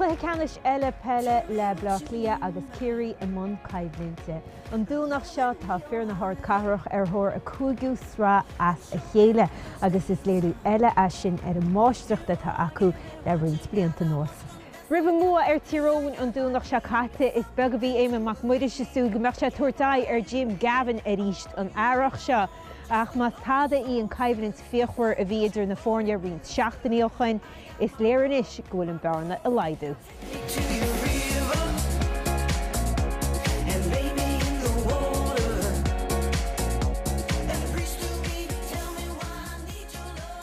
Cluiche ceannais eile peile le Bleá Cliath agus Ciarraí i mbun coimhlinte. An Domhnach seo tá fir na hardchathrach ar thóir a gcúigiú sraith as a chéile agus is léiriú eile é sin ar an máistreacht atá acu le roinnt blianta anuas. Roimh an mbua ar Tír Eoghain an Domhnach seo caite, is beag a bhí Éamonn Mac Muiris ag súil go mbeadh sé ag tabhairt aghaidh ar Jim Gavin arís an earrach seo ach más tada í an choimhlint fíochmhar a bhí idir na foirne roinnt seachtainí ó shin, is léir anois go bhfuil an bhearna ag laghdú.